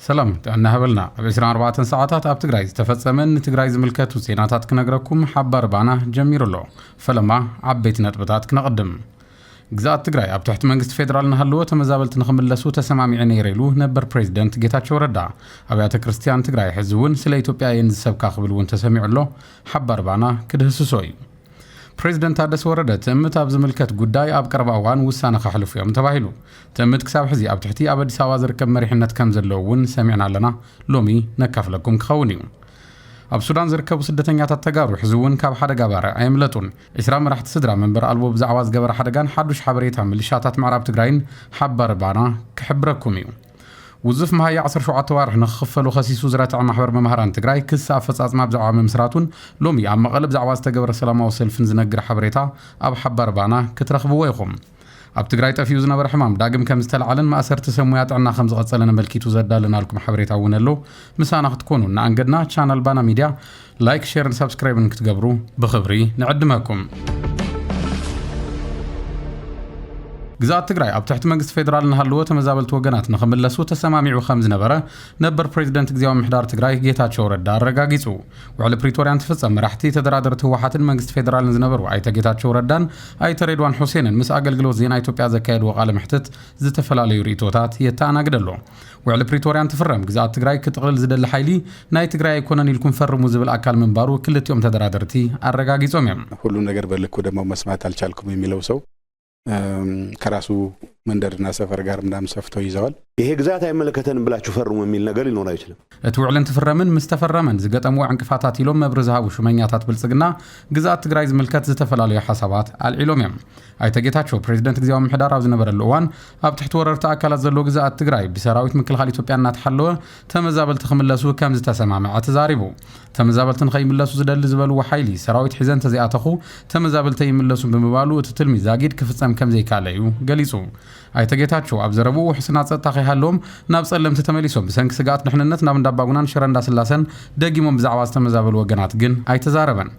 ሰላም ጥዕና ሃበልና ኣብ 24 ሰዓታት ኣብ ትግራይ ዝተፈጸመን ንትግራይ ዝምልከቱ ዜናታት ክነግረኩም ሓባር ባና ጀሚሩ ኣሎ ፈለማ ዓበይቲ ነጥብታት ክነቕድም ግዝኣት ትግራይ ኣብ ትሕቲ መንግስቲ ፌደራል እናሃለወ ተመዛበልቲ ንኽምለሱ ተሰማሚዐ ነይረ ኢሉ ነበር ፕሬዚደንት ጌታቸው ረዳ። ኣብያተ ክርስትያን ትግራይ ሕዚ እውን ስለ ኢትዮጵያ እየን ዝሰብካ ክብል እውን ተሰሚዑ ኣሎ። ሓባር ባና ክድህስሶ እዩ። ፕሬዚደንት ታደሰ ወረደ ትእምት ኣብ ዝምልከት ጉዳይ ኣብ ቀረባ እዋን ውሳነ ከሕልፉ እዮም ተባሂሉ። ትእምት ክሳብ ሕዚ ኣብ ትሕቲ ኣብ ኣዲስ ኣበባ ዝርከብ መሪሕነት ከም ዘለዉ እውን ሰሚዕና ኣለና። ሎሚ ነካፍለኩም ክኸውን እዩ። ኣብ ሱዳን ዝርከቡ ስደተኛታት ተጋሩ ሕዚ እውን ካብ ሓደጋ ባርዕ ኣየምለጡን። ዕስራ መራሕቲ ስድራ መንበሪ ኣልቦ ብዛዕባ ዝገበረ ሓደጋን ሓዱሽ ሓበሬታ ምልሻታት ምዕራብ ትግራይን ሓባሪ ባና ክሕብረኩም እዩ። ውዙፍ መሃያ ዓሰርተ ሸውዓተ ኣዋርሕ ንክኽፈሉ ከሲሱ ዝረትዐ ማሕበር መማህራን ትግራይ ክሲ ኣፈፃፅማ ብዛዕባ ምምስራቱን ሎሚ ኣብ መቐለ ብዛዕባ ዝተገበረ ሰላማዊ ሰልፍን ዝነግር ሓበሬታ ኣብ ሓባሪ ባና ክትረኽብዎ ኢኹም። ኣብ ትግራይ ጠፊኡ ዝነበረ ሕማም ዳግም ከም ዝተላዕለን ማእሰርቲ ሰብ ሙያ ጥዕና ከም ዝቐጸለን ኣመልኪቱ ዘዳለናልኩም ሓበሬታ እውን ኣሎ። ምሳና ክትኮኑ እናኣንገድና ቻናል ባና ሚድያ ላይክ፣ ሼርን ሳብስክራይብን ክትገብሩ ብኽብሪ ንዕድመኩም። ግዝኣት ትግራይ ኣብ ትሕቲ መንግስቲ ፌደራል እናሃለወ ተመዛበልቲ ወገናት ንኽምለሱ ተሰማሚዑ ከም ዝነበረ ነበር ፕሬዚደንት ግዜያዊ ምሕዳር ትግራይ ጌታቸው ረዳ ኣረጋጊጹ። ውዕሊ ፕሪቶርያ እንትፍፀም መራሕቲ ተደራደርቲ ህወሓትን መንግስቲ ፌዴራልን ዝነበሩ ኣይተ ጌታቸው ረዳን ኣይተ ሬድዋን ሑሴንን ምስ ኣገልግሎት ዜና ኢትዮጵያ ዘካየድዎ ቃለ መሕትት ዝተፈላለዩ ርእቶታት የተኣናግድ ኣሎ። ውዕሊ ፕሪቶርያ እንትፍረም ግዝኣት ትግራይ ክጥቕልል ዝደሊ ሓይሊ ናይ ትግራይ ኣይኮነን ኢልኩም ፈርሙ ዝብል ኣካል ምንባሩ ክልቲኦም ተደራደርቲ ኣረጋጊፆም እዮም። ሁሉም ነገር በልኩ ደግሞ መስማት ኣልቻልኩም የሚለው ሰው ከራሱ መንደርና ሰፈር ጋር ምናምን ሰፍቶ ይዘዋል። ይሄ ግዛት አይመለከተንም ብላችሁ ፈርሙ የሚል ነገር ሊኖር አይችልም። እቲ ውዕል እንትፍረምን ምስ ተፈረመን ዝገጠምዎ ዕንቅፋታት ኢሎም መብሪ ዝሃቡ ሹመኛታት ብልጽግና ግዝኣት ትግራይ ዝምልከት ዝተፈላለዩ ሓሳባት ኣልዒሎም እዮም። ኣይተ ጌታቸው ፕሬዚደንት ግዜያዊ ምሕዳር ኣብ ዝነበረሉ እዋን ኣብ ትሕቲ ወረርቲ ኣካላት ዘለዎ ግዝኣት ትግራይ ብሰራዊት ምክልኻል ኢትዮጵያ እናተሓለወ ተመዛበልቲ ክምለሱ ከም ዝተሰማምዐ ተዛሪቡ። ተመዛበልቲ ንኸይምለሱ ዝደሊ ዝበልዎ ሓይሊ፣ ሰራዊት ሒዘ እንተዘይኣተኹ ተመዛበልቲ ኣይምለሱን ብምባሉ እቲ ትልሚ ዛጊድ ክፍፀም ከም ዘይከኣለ እዩ ገሊፁ። ኣይተ ጌታቸው ኣብ ዘረብኡ ውሕስና ፀጥታ ከይሃለዎም ናብ ፀለምቲ ተመሊሶም ብሰንኪ ስግኣት ድሕንነት ናብ እንዳባጉናን ሽረ እንዳስላሰን ደጊሞም ብዛዕባ ዝተመዛበሉ ወገናት ግን ኣይተዛረበን።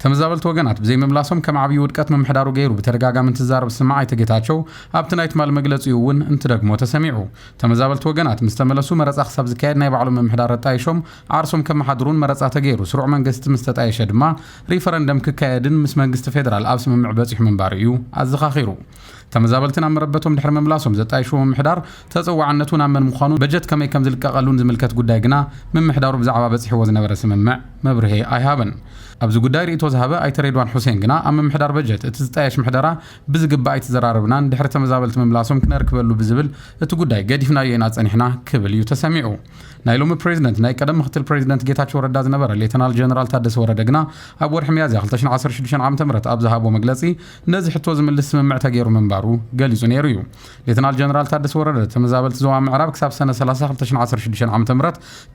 ተመዛበልቲ ወገናት ብዘይምምላሶም ከም ዓብዪ ውድቀት ምምሕዳሩ ገይሩ ብተደጋጋሚ እንትዛረብ ዝስማዕ ኣይተ ጌታቸው፣ ኣብቲ ናይ ትማሊ መግለፂኡ እውን እንትደግሞ ተሰሚዑ። ተመዛበልቲ ወገናት ምስ ተመለሱ መረፃ ክሳብ ዝካየድ ናይ ባዕሎም ምምሕዳር ኣጣይሾም ዓርሶም ከመሓድሩን መረፃ ተገይሩ ስሩዕ መንገስቲ ምስ ተጣየሸ ድማ ሪፈረንደም ክካየድን ምስ መንግስቲ ፌደራል ኣብ ስምምዕ በፂሑ ምንባሩ እዩ ኣዘኻኺሩ። ተመዛበልቲ ናብ መረበቶም ድሕሪ ምምላሶም ዘጣይሽዎ ምምሕዳር ተፀዋዕነቱ ናብ መን ምዃኑን በጀት ከመይ ከምዝልቀቐሉን ዝምልከት ጉዳይ ግና ምምሕዳሩ ብዛዕባ በፂሕዎ ዝነበረ ስምምዕ መብርሂ ኣይሃበን። ኣብዚ ጉዳይ ሪኢቶ ዝሃበ ኣይተ ሬድዋን ሑሴን ግና ኣብ ምምሕዳር በጀት እቲ ዝጣየሽ ምሕደራ ብዝግባእ ኣይተዘራረብናን ድሕሪ ተመዛበልቲ ምምላሶም ክነርክበሉ ብዝብል እቲ ጉዳይ ገዲፍናዮ ኢና ፀኒሕና ክብል እዩ ተሰሚዑ። ናይ ሎሚ ፕሬዚደንት ናይ ቀደም ምኽትል ፕሬዚደንት ጌታቸው ረዳ ዝነበረ ሌተናል ጀነራል ታደሰ ወረደ ግና ኣብ ወርሒ ሚያዝያ ክልተ ሽሕን ዓሰርተ ሽዱሽተን ዓመተ ምህረት ኣብ ዝሃቦ መግለፂ ነዚ ሕቶ ዝምልስ ስምምዕ ተገይሩ ምንባሩ ገሊጹ ነይሩ እዩ። ሌተናል ጀነራል ታደሰ ወረደ፣ ተመዛበልቲ ዞባ ምዕራብ ክሳብ ሰነ 30 2016 ዓ.ም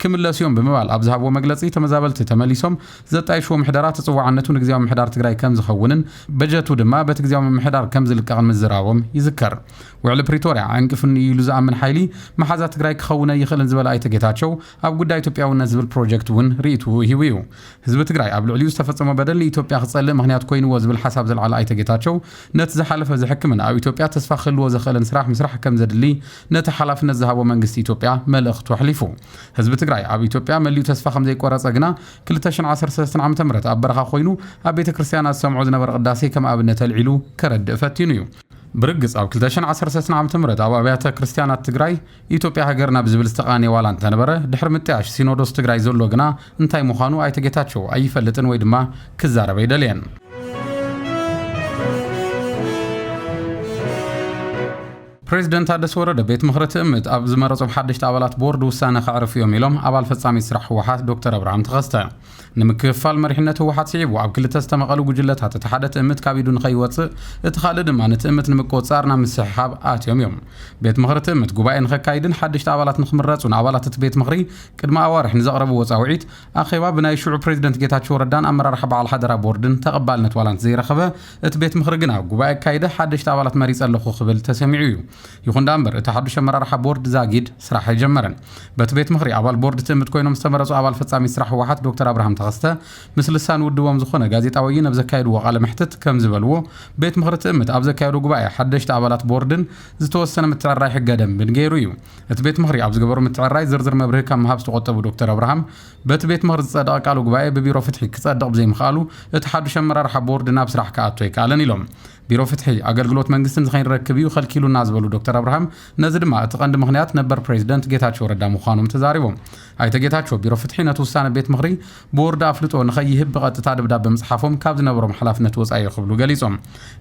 ክምለሱ እዮም ብምባል ኣብ ዝሃብዎ መግለጺ፣ ተመዛበልቲ ተመሊሶም ዘጣይሽዎ ምሕደራ ተጸዋዕነቱ ንግዝያዊ ምምሕዳር ትግራይ ከምዝኸውንን በጀቱ ድማ በቲ ግዝያዊ ምምሕዳር ከምዝልቀቕን ምዝራቦም ይዝከር። ውዕሊ ፕሪቶርያ ዕንቅፍኒ እዩ ኢሉ ዝኣምን ሓይሊ መሓዛ ትግራይ ክኸውን'ይኽእልን ዝበለ ኣይተ ጌታቸው፣ ኣብ ጉዳይ ኢትዮጵያውነት ዝብል ፕሮጀክት እውን ርኢትኡ ሂቡ እዩ። ህዝቢ ትግራይ ኣብ ልዕሊኡ ዝተፈፀሞ በደል ንኢትዮጵያ ክፀልእ ምኽንያት ኮይንዎ ዝብል ሓሳብ ዘልዓለ ኣይተ ጌታቸው፣ ነቲ ዝሓለፈ ዘሕክምን ኣብ ኢትዮጵያ ተስፋ ክህልዎ ዘኽእልን ስራሕ ምስራሕ ከምዘድሊ ነቲ ሓላፍነት ዝሃቦ መንግስቲ ኢትዮጵያ መልእኽቱ ኣሕሊፉ። ህዝቢ ትግራይ ኣብ ኢትዮጵያ መሊኡ ተስፋ ከምዘይቆረፀ ግና ክልተ ሽሕን ዓሰርተ ሰለስተን ዓመተ ምህረት ኣብ በረኻ ኮይኑ ኣብ ቤተ ክርስቲያናት ዝሰምዖ ዝነበረ ቅዳሴ ከም ኣብነት ኣልዒሉ ከረድእ ፈቲኑ እዩ። ብርግፅ ኣብ ክልተ ሽሕን ዓሰርተ ሰለስተን ዓመተ ምህረት ኣብ ኣብያተ ክርስቲያናት ትግራይ ኢትዮጵያ ሃገርና ብዝብል ዝተቓነየ ዋላ እንተነበረ ድሕሪ ምጥያሽ ሲኖዶስ ትግራይ ዘሎ ግና እንታይ ምዃኑ ኣይተ ጌታቸው ኣይፈልጥን ወይ ድማ ክዛረብ ኣይደለየን። ፕሬዚደንት ታደሰ ወረደ ቤት ምኽሪ ትእምት ኣብ ዝመረፆም ሓደሽቲ ኣባላት ቦርድ ውሳነ ከዕርፉ እዮም ኢሎም ኣባል ፈፃሚት ስራሕ ህወሓት ዶክተር ኣብርሃም ተኸስተ። ንምክፍፋል መሪሕነት ህወሓት ስዒቡ ኣብ ክልተ ዝተመቐሉ ጉጅለታት እቲ ሓደ ትእምት ካብ ኢዱ ንኸይወፅእ እቲ ኻልእ ድማ ንትእምት ንምቁፅፃር ናብ ምስሕሓብ ኣትዮም እዮም። ቤት ምኽሪ ትእምት ጉባኤ ንኸካይድን ሓደሽቲ ኣባላት ንኽምረፁን ኣባላት እቲ ቤት ምኽሪ ቅድሚ ኣዋርሕ ንዘቕረብዎ ፃውዒት ኣኼባ ብናይ ሽዑ ፕሬዝደንት ጌታቸው ረዳን ኣመራርሓ በዓል ሓደራ ቦርድን ተቐባልነት ዋላ እንተዘይረኸበ እቲ ቤት ምኽሪ ግና ጉባኤ ኣካይደ ሓደሽቲ ኣባላት መሪፀ ኣለኹ ክብል ተሰሚዑ እዩ። ይኹን ደኣ እምበር እቲ ሓዱሽ ኣመራርሓ ቦርድ ዛጊድ ስራሕ ኣይጀመረን። በቲ ቤት ምኽሪ ኣባል ቦርድ ትእምት ኮይኖም ዝተመረፁ ኣባል ፈፃሚት ስራሕ ህወሓት ዶክተር ኣብርሃም ተኸስተ ምስ ልሳን ውድቦም ዝኾነ ጋዜጣ ወይን ኣብ ዘካየድዎ ቃለ መሕትት ከምዝበልዎ ቤት ምኽሪ ትእምት ኣብ ዘካየዶ ጉባኤ ሓደሽቲ ኣባላት ቦርድን ዝተወሰነ ምትዕርራይ ሕገ ደንብን ገይሩ እዩ። እቲ ቤት ምኽሪ ኣብ ዝገበሮ ምትዕርራይ ዝርዝር መብርሂ ካብ ምሃብ ዝተቖጠቡ ዶክተር ኣብርሃም በቲ ቤት ምኽሪ ዝፀደቐ ቃለ ጉባኤ ብቢሮ ፍትሒ ክፀድቕ ብዘይምኽኣሉ እቲ ሓዱሽ ኣመራርሓ ቦርድ ናብ ስራሕ ክኣቱ ኣይከኣለን ኢሎም። ቢሮ ፍትሒ ኣገልግሎት መንግስትን ንከይንረክብ እዩ ከልኪሉና ዝበሉ ዶክተር ኣብርሃም ነዚ ድማ እቲ ቀንዲ ምኽንያት ነበር ፕሬዚደንት ጌታቸው ረዳ ምዃኖም ተዛሪቦም። ኣይተ ጌታቸው ቢሮ ፍትሒ ነቲ ውሳነ ቤት ምኽሪ ቦርድ ኣፍልጦ ንከይህብ ብቐጥታ ደብዳበ ምፅሓፎም ካብ ዝነበሮም ሓላፍነት ወፃኢ እዩ ክብሉ ገሊፆም።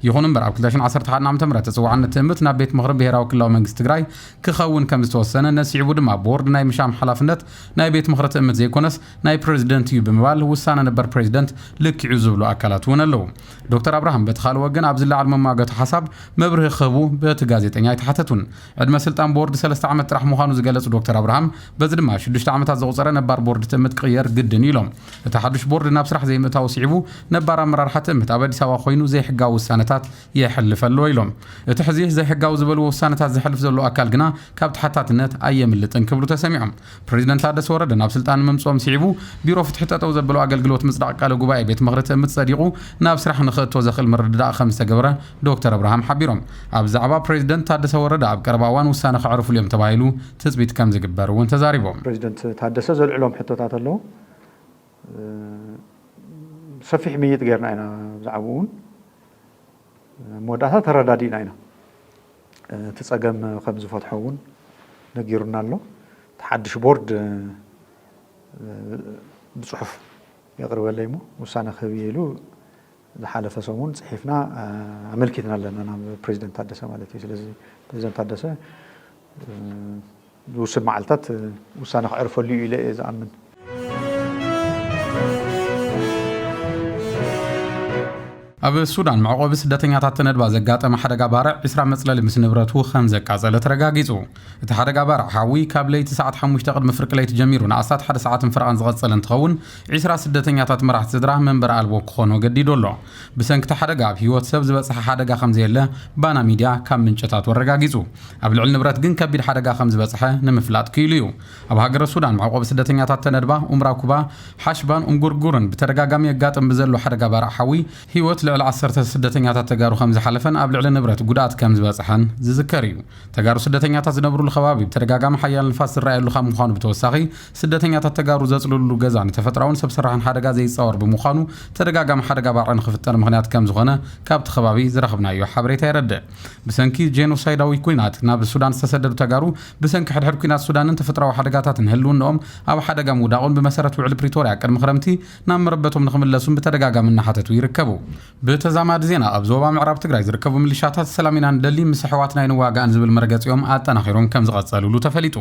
ይኹን እምበር ኣብ 2011 ዓ.ም ተፅዋዕነት ትእምት ናብ ቤት ምኽሪ ብሄራዊ ክልላዊ መንግስቲ ትግራይ ክኸውን ከምዝተወሰነ ነሲዕቡ ድማ ቦርድ ናይ ምሻም ሓላፍነት ናይ ቤት ምኽሪ ትእምት ዘይኮነስ ናይ ፕረዚደንት እዩ ብምባል ውሳነ ነበር ፕረዚደንት ልኪዑ ዝብሉ ኣካላት እውን ኣለዉ። ዶክተር ኣብርሃም በቲ ካልእ ወገን ኣብ ዝለዓል መማገቱ ሓሳብ መብርሂ ክህቡ በቲ ጋዜጠኛ ኣይተሓተቱን። ዕድመ ስልጣን ቦርድ ሰለስተ ዓመት ጥራሕ ምዃኑ ዝገለፁ ዶክተር ኣብርሃም በዚ ድማ ሽዱሽተ ዓመታት ዘቑፀረ ነባር ቦርድ ትእምት ክቕየር ግድን እዩ ኢሎም። እቲ ሓዱሽ ቦርድ ናብ ስራሕ ዘይምእታዉ ስዒቡ ነባር ኣመራርሓ ትእምት ኣብ ኣዲስ ኣበባ ኮይኑ ዘይሕጋዊ ውሳነታት የሕልፍ ኣሎ ኢሎም። እቲ ሕዚ ዘይሕጋዊ ዝበልዎ ውሳነታት ዘሕልፍ ዘሎ ኣካል ግና ካብ ተሓታትነት ኣየምልጥን ክብሉ ተሰሚዖም። ፕረዚደንት ታደሰ ወረደ ናብ ስልጣን ምምፅኦም ስዒቡ ቢሮ ፍትሒ ጠጠው ዘበሎ ኣገልግሎት ምፅዳቕ ቃለ ጉባኤ ቤት ምኽሪ ትእምት ፀዲቑ ናብ ስራሕ ንኽእቶ ዘኽእል ምርድዳእ ከምዝተገበረ ዶክተር ኣብርሃም ሓቢሮም። ኣብ ዛዕባ ፕረዚደንት ታደሰ ወረደ ኣብ ቀረባ እዋን ውሳነ ከዕርፍሉ እዮም ተባሂሉ ትፅቢት ከምዝግበር እውን ተዛሪቦም። ፕረዚደንት ታደሰ ዘልዕሎም ሕቶታት ኣለው። ሰፊሕ ምይይጥ ጌርና ኢና ብዛዕብኡ እውን ኣብ መወዳእታ ተረዳዲእና ኢና። እቲ ፀገም ከም ዝፈትሖ እውን ነጊሩና ኣሎ። እቲ ሓድሽ ቦርድ ብፅሑፍ የቕርበለይ እሞ ውሳነ ክህብ እየ ኢሉ ዝሓለፈ ሰሙን ጽሒፍና ኣመልኪትና ኣለና ናብ ፕረዚደንት ታደሰ ማለት እዩ። ስለዚ ፕረዚደንት ታደሰ ዝውስድ መዓልታት ውሳነ ክዕርፈሉ እዩ ኢለ እየ ዝኣምን። ኣብ ሱዳን መዕቆቢ ስደተኛታት ተነድባ ዘጋጠመ ሓደጋ ባርዕ ዕስራ መጽለሊ ምስ ንብረቱ ከም ዘቃጸለ ተረጋጊጹ። እቲ ሓደጋ ባርዕ ሓዊ ካብ ለይቲ ሰዓት ሓሙሽተ ቅድሚ ፍርቂ ለይቲ ጀሚሩ ንኣስታት ሓደ ሰዓትን ፈረቓን ዝቐጸለ እንትኸውን፣ ዒስራ ስደተኛታት መራሕቲ ስድራ መንበሪ ኣልቦ ክኾኑ ኣገዲዱ ኣሎ። ብሰንኪ'ቲ ሓደጋ ኣብ ህይወት ሰብ ዝበጽሐ ሓደጋ ከምዘየለ ባና ሚድያ ካብ ምንጭታቱ ኣረጋጊጹ። ኣብ ልዕሊ ንብረት ግን ከቢድ ሓደጋ ከምዝበጽሐ ንምፍላጥ ክኢሉ እዩ። ኣብ ሃገረ ሱዳን መዕቆቢ ስደተኛታት ተነድባ፣ ኡምራኩባ፣ ሓሽባን ኡንጉርጉርን ብተደጋጋሚ የጋጥም ብዘሎ ሓደጋ ባርዕ ሓዊ ህይወት ልዕሊ ዓሰርተ ስደተኛታት ተጋሩ ከምዝሓለፈን ኣብ ልዕሊ ንብረት ጉድኣት ከምዝበጽሐን ዝዝከር እዩ። ተጋሩ ስደተኛታት ዝነብሩሉ ከባቢ ብተደጋጋሚ ሓያል ንፋስ ዝረኣየሉ ካብ ምዃኑ ብተወሳኺ ስደተኛታት ተጋሩ ዘፅልሉሉ ገዛ ንተፈጥራውን ሰብ ሰራሕን ሓደጋ ዘይፃወር ብምዃኑ ተደጋጋሚ ሓደጋ ባርዕ ንኽፍጠር ምኽንያት ከምዝኾነ ካብቲ ከባቢ ዝረኽብናዮ ሓበሬታ የረድእ። ብሰንኪ ጄኖሳይዳዊ ኲናት ናብ ሱዳን ዝተሰደዱ ተጋሩ ብሰንኪ ሕድሕድ ኲናት ሱዳንን ተፈጥራዊ ሓደጋታትን ህልውንኦም ኣብ ሓደጋ ምውዳቑን ብመሰረት ውዕሊ ፕሪቶርያ ቅድሚ ክረምቲ ናብ መረበቶም ንኽምለሱን ብተደጋጋሚ እናሓተቱ ይርከቡ። ብተዛማዲ ዜና ኣብ ዞባ ምዕራብ ትግራይ ዝርከቡ ምልሻታት ሰላም ኢና ንደሊ ምስ ኣሕዋትና ኣይንዋጋእን ዝብል መርገፂኦም ኣጠናኺሮም ከምዝቐፀልሉ ተፈሊጡ።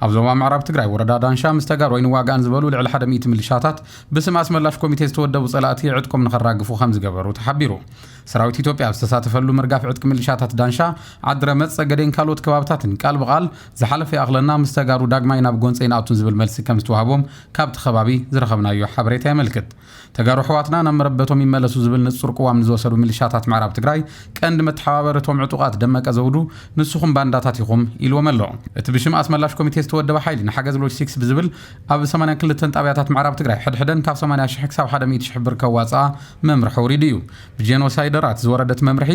ኣብ ዞባ ምዕራብ ትግራይ ወረዳ ዳንሻ ምስ ተጋሩ ኣይንዋጋእን ዝበሉ ልዕሊ ሓደ ሚእቲ ምልሻታት ብስም ኣስመላሽ ኮሚቴ ዝተወደቡ ፀላእቲ ዕጥቆም ንኸራግፉ ከምዝገበሩ ተሓቢሩ። ሰራዊት ኢትዮጵያ ኣብ ዝተሳተፈሉ ምርጋፍ ዕጥቂ ምልሻታት ዳንሻ፣ ዓድረመፅ፣ ፀገዴን ካልኦት ከባብታትን ቃል ብቓል ዝሓለፈ ይኣኽለና ምስ ተጋሩ ዳግማይ ናብ ጎንፂ ኣይንኣቱን ዝብል መልሲ ከምዝተዋህቦም ካብቲ ከባቢ ዝረኸብናዮ ሓበሬታ የመልክት። ተጋሩ ኣሕዋትና ናብ መረበቶም ይመለሱ ዝብል ንፁር ቅዋም ንዝወሰዱ ሚሊሻታት ምዕራብ ትግራይ ቀንዲ መተሓባበሪ እቶም ዕጡቓት ደመቀ ዘውዱ ንስኹም ባንዳታት ኢኹም ኢሉዎም ኣሎ። እቲ ብሽም ኣስመላሽ ኮሚቴ ዝተወደበ ሓይሊ ንሓገዝ ሎጂስቲክስ ብዝብል ኣብ ሰማንያን ክልተን ጣብያታት ምዕራብ ትግራይ ሕድሕደን ካብ ሰማንያ ሽሕ ክሳብ ሓደ ሚእቲ ሽሕ ብር ከዋፅኣ መምርሒ ኣውሪዱ እዩ። ብጄኖሳይደራት ዝወረደ እቲ መምርሒ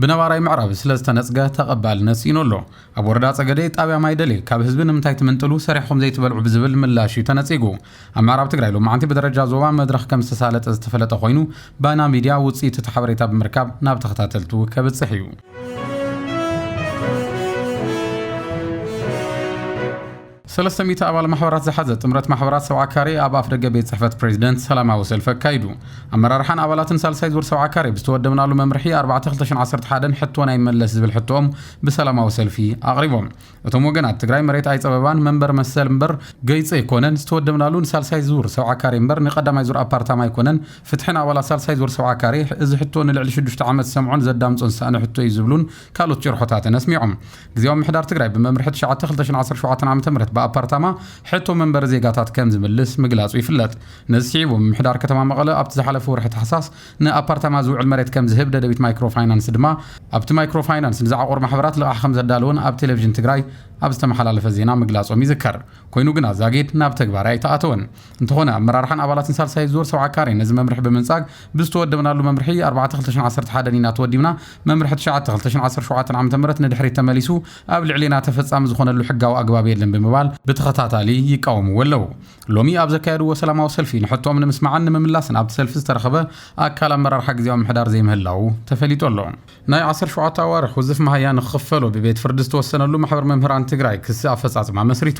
ብነባራይ ምዕራብ ስለ ዝተነጽገ ተቐባልነት ስኢኑ ኣሎ። ኣብ ወረዳ ጸገዴ ጣብያ ማይደሌ ካብ ህዝቢ ንምንታይ ትምንጥሉ ሰሪሕኹም ዘይትበልዑ ብዝብል ምላሽ'ዩ ተነጺጉ። ኣብ ምዕራብ ትግራይ ሎማዕንቲ ብደረጃ ዞባ መድረኽ ከም ዝተሳለጠ ዝተፈለጠ ኮይኑ ባና ሚድያ ውጽኢት እቲ ሓበሬታ ብምርካብ ናብ ተኸታተልቱ ከብጽሕ እዩ። ሰለስተ ሚእቲ ኣባል ማሕበራት ዝሓዘ ጥምረት ማሕበራት ሰብዓ ካሬ ኣብ ኣፍደገ ቤት ጽሕፈት ፕሬዚደንት ሰላማዊ ሰልፊ ኣካይዱ። ኣመራርሓን ኣባላትን ሳልሳይ ዙር ሰብዓ ካሬ ብዝተወደብናሉ መምርሒ ኣርባዕተ ክልተ ሽሕን ዓሰርተ ሓደን ሕቶና ይመለስ ዝብል ሕቶኦም ብሰላማዊ ሰልፊ ኣቕሪቦም። እቶም ወገናት ትግራይ መሬት ኣይጸበባን መንበር መሰል እምበር ገይፂ ኣይኮነን፣ ዝተወደብናሉ ንሳልሳይ ዙር ሰብዓ ካሬ እምበር ንቀዳማይ ዙር ኣፓርታማ ኣይኮነን፣ ፍትሒ ንኣባላት ሳልሳይ ዙር ሰብዓ ካሬ፣ እዚ ሕቶ ንልዕሊ ሽዱሽተ ዓመት ዝሰምዖን ዘዳምፆን ዝሰኣነ ሕቶ እዩ ዝብሉን ካልኦት ጭርሖታትን ኣስሚዖም። ግዝያዊ ምምሕዳር ትግራይ ብመምርሒ ትሽዓተ ክልተ ሽሕን ዓሰርተ ሸውዓተን ዓመተ ምህረት ብኣፓርታማ ሕቶ መንበሪ ዜጋታት ከም ዝምልስ ምግላጹ ይፍለጥ። ነዚ ስዒቡ ምምሕዳር ከተማ መቐለ ኣብቲ ዝሓለፈ ወርሒ ታሕሳስ ንኣፓርታማ ዝውዕል መሬት ከም ዝህብ ደደቢት ማይክሮ ፋይናንስ ድማ ኣብቲ ማይክሮ ፋይናንስ ንዝዓቖሩ ማሕበራት ልቓሕ ከም ዘዳለወን ኣብ ቴሌቭዥን ትግራይ ኣብ ዝተመሓላለፈ ዜና ምግላጾም ይዝከር። ኮይኑ ግና ዛጊድ ናብ ተግባራይ ኣይተኣተወን። እንተኾነ ኣመራርሓን ኣባላትን ሳልሳይ ዙር ሰብዓ ካሬ ነዚ መምርሒ ብምንጻግ ብዝተወደብናሉ መምርሒ ኣርባዕተ ክልተ ሽሕን ዓሰርተ ሓደን ኢና ተወዲብና፣ መምርሒ ትሽዓተ ክልተ ሽሕን ዓሰርተ ሸውዓተን ዓመተ ምህረት ንድሕሪት ተመሊሱ ኣብ ልዕሌና ተፈጻሚ ዝኾነሉ ሕጋዊ ኣግባብ የለን ብምባል ብተኸታታሊ ይቃወምዎ ኣለው። ሎሚ ኣብ ዘካየድዎ ሰላማዊ ሰልፊ ንሕቶኦም ንምስማዕን ንምምላስን ኣብቲ ሰልፊ ዝተረኸበ ኣካል ኣመራርሓ ግዝያዊ ምምሕዳር ዘይምህላዉ ተፈሊጡ ኣሎ። ናይ ዓሰርተ ሸውዓተ ኣዋርሕ ውዝፍ መሃያ ንክኽፈሎ ብቤት ፍርዲ ዝተወሰነሉ ማሕበር መምህራን ትግራይ ክሲ ኣፈፃፅማ መስሪቱ።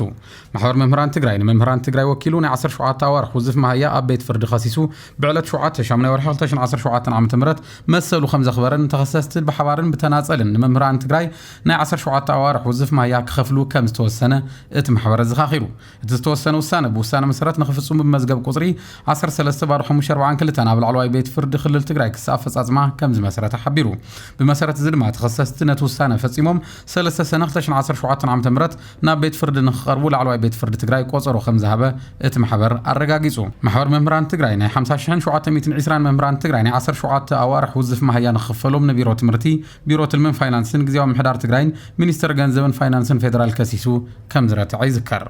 ማሕበር መምህራን ትግራይ ንመምህራን ትግራይ ወኪሉ ናይ ዓሰርተ ሸውዓተ ኣዋርሕ ውዝፍ መሃያ ኣብ ቤት ፍርዲ ከሲሱ ብዕለት ሸውዓተ ሻሙናይ ወርሒ ክልተ ሽሕን ዓሰርተ ሸውዓተን ዓመተ ምህረት መሰሉ ከምዘኽበረን ንተኸሰስቲ ብሓባርን ብተናፀልን ንመምህራን ትግራይ ናይ ዓሰርተ ሸውዓተ ኣዋርሕ ውዝፍ መሃያ ክኸፍሉ ከምዝተወሰነ እቲ ማሕበር ኣዘኻኺሩ። እቲ ዝተወሰነ ውሳነ ብውሳነ መሰረት ንክፍፅሙ ብመዝገብ ቁፅሪ ዓሰርተ ሰለስተ ባዶ ሓሙሽተ ኣርብዓን ክልተን ኣብ ላዕለዋይ ቤት ፍርዲ ክልል ትግራይ ክሲ ኣፈፃፅማ ከምዝመስረተ ሓቢሩ። ብመሰረት እዚ ድማ ተኸሰስቲ ነቲ ውሳነ ፈፂሞም ሰለስተ ሰነ ክልተ ሽሕን ዓሰርተ ሸውዓተን ዓመተ ምህረት ናብ ቤት ፍርዲ ንክቐርቡ ላዕለዋይ ቤት ፍርዲ ትግራይ ቆፀሮ ከምዝሃበ እቲ ማሕበር ኣረጋጊፁ። ማሕበር መምህራን ትግራይ ናይ ሓምሳ ሽሕን ሸውዓተ ሚእትን ዒስራን መምህራን ትግራይ ናይ ዓሰርተ ሸውዓተ ኣዋርሕ ውዝፍ ማሃያ ንክኽፈሎም ንቢሮ ትምህርቲ ቢሮ ትልምን ፋይናንስን ግዝያዊ ምምሕዳር ትግራይን ሚኒስቴር ገንዘብን ፋይናንስን ፌዴራል ከሲሱ ከም ዝረትዐ ይዝከር።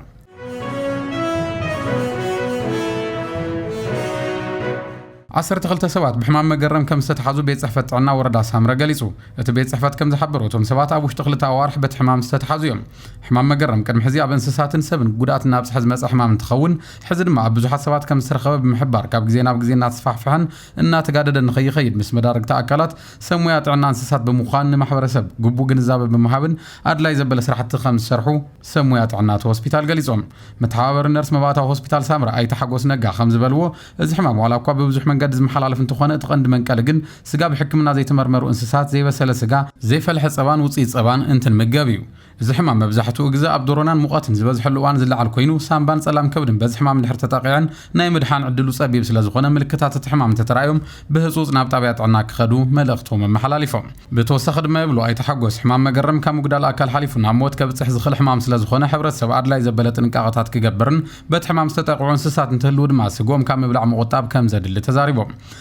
ዓሰርተ ክልተ ሰባት ብሕማም መገረም ከም ዝተትሓዙ ቤት ጽሕፈት ጥዕና ወረዳ ሳምረ ገሊጹ። እቲ ቤት ጽሕፈት ከም ዝሓበሮ እቶም ሰባት ኣብ ውሽጢ ክልተ ኣዋርሕ በቲ ሕማም ዝተትሓዙ እዮም። ሕማም መገረም ቅድሚ ሕዚ ኣብ እንስሳትን ሰብን ጉድኣት እናብጽሐ ዝመጸ ሕማም እንትኸውን ሕዚ ድማ ኣብ ብዙሓት ሰባት ከም ዝተረኸበ ብምሕባር ካብ ግዜ ናብ ግዜ እናተስፋሕፍሐን እናተጋደደን ንከይኸይድ ምስ መዳርግቲ ኣካላት ሰብ ሞያ ጥዕና እንስሳት ብምዃን ንማሕበረሰብ ግቡእ ግንዛበ ብምሃብን ኣድላይ ዘበለ ስራሕቲ ከምዝሰርሑ ሰብ ሞያ ጥዕና እቲ ሆስፒታል ገሊፆም። መተሓባበሪ ነርስ መባእታዊ ሆስፒታል ሳምረ ኣይተ ሓጎስ ነጋ ከምዝበልዎ እዚ ሕማም ዋላ እኳ ብብዙሕ መንገዲ ዝመሓላለፍ እንተኾነ እቲ ቀንዲ መንቀሊ ግን ስጋ ብሕክምና ዘይተመርመሩ እንስሳት፣ ዘይበሰለ ስጋ፣ ዘይፈልሐ ፀባን ውፅኢት ፀባን እንትንምገብ እዩ። እዚ ሕማም መብዛሕትኡ ግዘ ኣብ ዶሮናን ሙቐትን ዝበዝሐሉ እዋን ዝለዓል ኮይኑ ሳንባን ፀላም ከብድን በዚ ሕማም እንድሕር ተጠቒዐን ናይ ምድሓን ዕድሉ ፀቢብ ስለዝኾነ ምልክታት እቲ ሕማም እንተተራእዮም ብህፁፅ ናብ ጣብያ ጥዕና ክኸዱ መልእኽቶም ኣመሓላሊፎም። ብተወሳኺ ድማ ይብሉ ኣይተ ሓጎስ ሕማም መገረም ካብ ምጉዳል ኣካል ሓሊፉ ናብ ሞት ከብፅሕ ዝኽእል ሕማም ስለዝኾነ ሕብረተሰብ ኣድላይ ዘበለ ጥንቃቐታት ክገብርን በቲ ሕማም ዝተጠቕዑ እንስሳት እንትህልው ድማ ስግኦም ካብ ምብላዕ ምቑጣብ ከምዘድሊ ተዛሪቦም።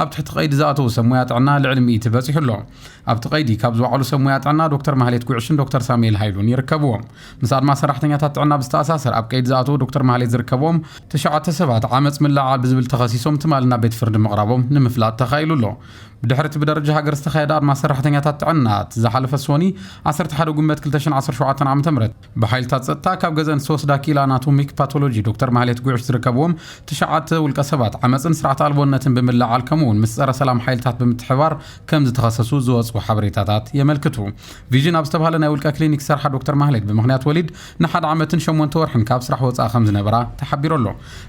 ኣብ ትሕቲ ቀይዲ ዝኣተዉ ሰብ ሞያ ጥዕና ልዕሊ ሚእቲ በፂሑ ኣሎ። ኣብቲ ቀይዲ ካብ ዝወዓሉ ሰብ ሞያ ጥዕና ዶክተር ማህሌት ጉዕሽን ዶክተር ሳሙኤል ሃይሉን ይርከብዎም። ምስ ኣድማ ሰራሕተኛታት ጥዕና ብዝተኣሳሰር ኣብ ቀይዲ ዝኣተዉ ዶክተር ማህሌት ዝርከብዎም ትሽዓተ ሰባት ዓመፅ ምልዕዓል ብዝብል ተኸሲሶም ትማሊ ናብ ቤት ፍርዲ ምቕራቦም ንምፍላጥ ተኻኢሉ ኣሎ። ብድሕሪ እቲ ብደረጃ ሃገር ዝተኻየደ ኣድማ ሰራሕተኛታት ጥዕና እቲ ዝሓለፈ ሶኒ ዓሰርተ ሓደ ጉንበት ክልተ ሽሕን ዓሰርተ ሸውዓተን ዓመተ ምህረት ብሓይልታት ጸጥታ ካብ ገዘን ዝተወስዳ ክኢላ ኣናቶሚክ ፓቶሎጂ ዶክተር ማህሌት ጉዕሽ ዝርከብዎም ትሽዓተ ውልቀ ሰባት ዓመፅን ስርዓት ኣልቦነትን ብምልዓል ከምኡ እውን ምስ ጸረ ሰላም ሓይልታት ብምትሕባር ከም ዝተኸሰሱ ዝወፅኡ ሓበሬታታት የመልክቱ። ቪዥን ኣብ ዝተባሃለ ናይ ውልቀ ክሊኒክ ዝሰርሓ ዶክተር ማህሌት ብምክንያት ወሊድ ንሓደ ዓመትን ሸሞንተ ወርሕን ካብ ስራሕ ወፃኢ ከም ዝነበራ ተሓቢሩ ኣሎ።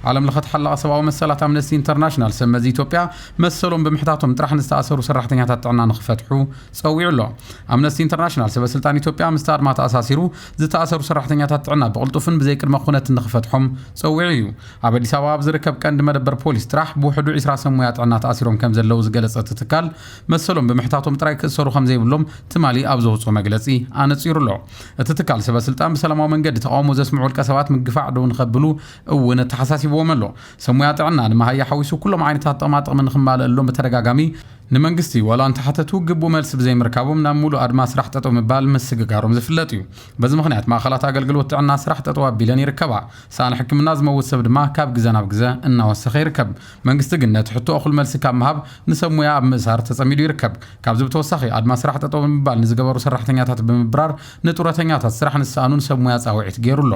ዓለም ለኸ ተሓላቒ ሰብኣዊ መሰላት ኣምነስቲ ኢንተርናሽናል ሰብ መዚ ኢትዮጵያ መሰሎም ብምሕታቶም ጥራሕ ንዝተኣሰሩ ሰራሕተኛታት ጥዕና ንክፈትሑ ጸዊዑ ኣሎ። ኣምነስቲ ኢንተርናሽናል ሰበስልጣን ኢትዮጵያ ምስቲ ኣድማ ተኣሳሲሩ ዝተኣሰሩ ሰራሕተኛታት ጥዕና ብቕልጡፍን ብዘይ ቅድመ ኩነትን ንኽፈትሖም ጸዊዑ እዩ። ኣብ ኣዲስ ኣበባ ኣብ ዝርከብ ቀንዲ መደበር ፖሊስ ጥራሕ ብውሕዱ ዒስራ ሰብ ሞያ ጥዕና ተኣሲሮም ከምዘለዉ ዝገለጸ እቲ ትካል መሰሎም ብምሕታቶም ጥራይ ክእሰሩ ከምዘይብሎም ትማሊ ኣብ ዘውጽኦ መግለጺ ኣነጺሩ ኣሎ። እቲ ትካል ሰበስልጣን ብሰላማዊ መንገዲ ተቓውሞ ዘስምዑ ውልቀሰባት ምግፋዕ ደው ንኸብሉ እውን ኣተሓሳሲብዎም ኣሎ። ሰብ ሞያ ጥዕና ንመሃያ ሓዊሱ ኩሎም ዓይነታት ጥቕማጥቕሚ ንኽማለኣሎም ብተደጋጋሚ ንመንግስቲ ዋላ እንተሓተቱ ግቡእ መልሲ ብዘይምርካቦም ናብ ሙሉእ ኣድማ ስራሕ ጠጠው ምባል ምስግጋሮም ዝፍለጥ እዩ። በዚ ምኽንያት ማእኸላት ኣገልግሎት ጥዕና ስራሕ ጠጠው ኣቢለን ይርከባ። ሳእኒ ሕክምና ዝመውት ሰብ ድማ ካብ ግዘ ናብ ግዘ እናወሰኸ ይርከብ። መንግስቲ ግን ነቲ ሕቶ እኹል መልሲ ካብ ምሃብ ንሰብ ሙያ ኣብ ምእሳር ተፀሚዱ ይርከብ። ካብዚ ብተወሳኺ ኣድማ ስራሕ ጠጠው ብምባል ንዝገበሩ ሰራሕተኛታት ብምብራር ንጡረተኛታት ስራሕ ንዝሰኣኑን ሰብ ሙያ ፃውዒት ገይሩ ኣሎ።